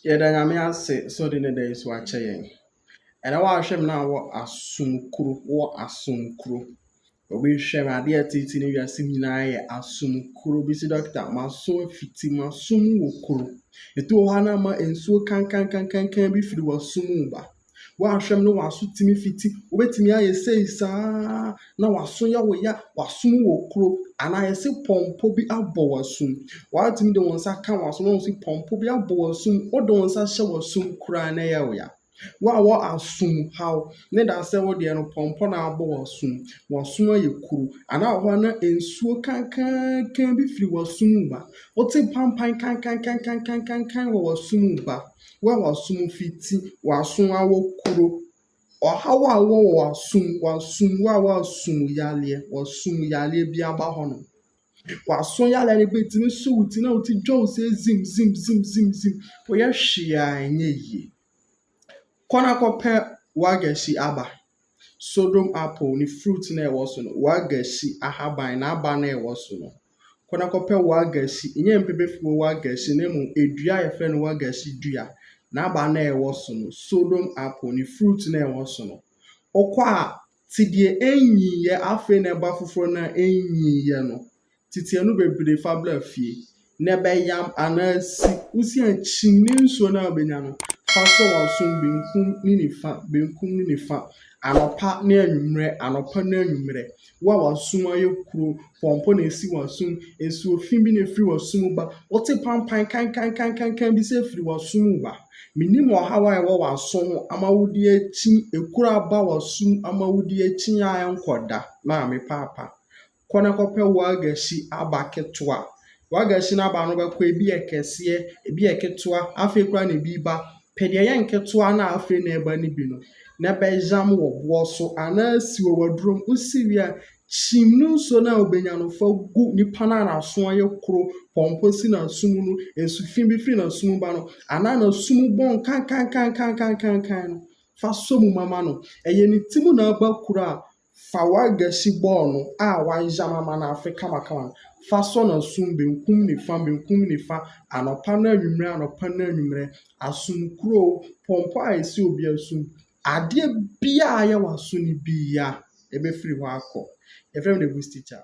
Yɛda Nyame ase sɛ ɔde ne da yi so akyɛ yɛn. Ɛnɛ w'ahwɛ me na wɔ asom kuro, wɔ asom kuro. Obi hwɛ me adeɛ ɛtete ne wiase nyinaa yɛ asom kuro. Obi si dɔkta m'aso afiti m'aso mu wɔ kuro. Etu wɔ hɔ a na ama nsuo kankankankan bi firi w'aso mu ba. Woanhwɛm no w'aso tumi fiti wobɛtumi ayɛ sei saa na w'aso yɛ wo ya w'asom wɔ kuro anaa yɛse pɔmpɔ bi abɔ w'asom woatumi de wo nsa ka w'aso na wɔsi pɔmpɔ bi abɔ w'asom wode wo nsa hyɛ w'asom koraa na ɛyɛ wo ya wo a wɔ asom haw ne da sɛ wo deɛ no pɔmpɔ na abɔ w'asom w'asom ayɛ kuro anaa wɔ hɔ na nsuo kankankan bi firi w'asom mu ba wote pampan kankankankankankan wɔ w'asom mu ba Wo a w'asom fiti, w'aso awɔ kuro. Ɔhaw a wowɔ wɔ w'asom, w'asom, wo a w'asom yareɛ, w'asom yareɛ bi aba hɔ nom. W'aso yareɛ no bɛtumi so wo ti na wo ti dwa wo sɛ zim zim zim zim zim. Woyɛ hwee a ɛnyɛ yie. Kɔ na kɔpɛ w'agasi aba. Sodom apple no fruit no a ɛwɔ so no, wagasi ahaban, n'aba no a ɛwɔ so no. Kɔ na kɔpɛ wagasi, ɛnyɛ mpebefo wagasi na mmom dua a yɛfrɛ no wagasi dua, n'aba no a ɛwɔ so no, Sodom apple no fruit no a ɛwɔ so no. Wokɔ a, te deɛ ɛnyiiɛ, afei na ɛba foforɔ no a ɛnyiiɛ no. tsetse no beberee fa bra fie, na bɛyam anaa si wo se a kyin ne nsuo no a wobɛnya no fa sɔ w'asom benkum ne nifa, benkum ne nifa, anɔpa ne anwummerɛ, anɔpa ne anwummerɛ. Wo a w'asom ayɛ kuro, pɔmpɔ na ɛsi w'asom, nsuo fi bi na ɛfiri w'asom mu ba, wote pampan kankankankankan bi sɛ ɛfiri w'asom mu ba. Menim ɔhaw a ɛwɔ w'aso ho ama wode akyin, ekuro aba w'asom ama wode akyin a ɛnkɔ da, Maame Paapa. Kɔ na kɔpɛ wagashi aba ketewa. Wagashi no aba no wobɛkɔ ebi yɛ kɛseɛ, ebi yɛ ketewa, afei koraa na ebi reba. Pɛ deɛ ɛyɛ nketewa no a afei na ɛreba no bi no, na bɛyam wɔ boɔ so anaa si wɔ w'aduro mu. Wosi wie a, kyim ne nsuo no a wobɛnya no fa gu nipa no a n'aso ayɛ koro, pɔmpɔ si n'aso mu no, nsu fi bi firi n'aso mu ba no anaa n'aso mu bɔn kankankankankankan no, fa sɔ mu ma ma no. Ɛyɛ ne ti mu na aba kuro a, Fa w'agasi bɔɔl no a wɔayam ama no afe kamakama no fa sɔ n'asom benkum nifa, benkum nifa, anɔpa ne anwummere, anɔpa ne anwummere, asom kuro, pɔmpɔ a ɛsi obi asom, adeɛ biara a ɛyɛ w'aso no biara, ɛbɛfiri hɔ akɔ. Yɛfrɛ me the Bush teacher.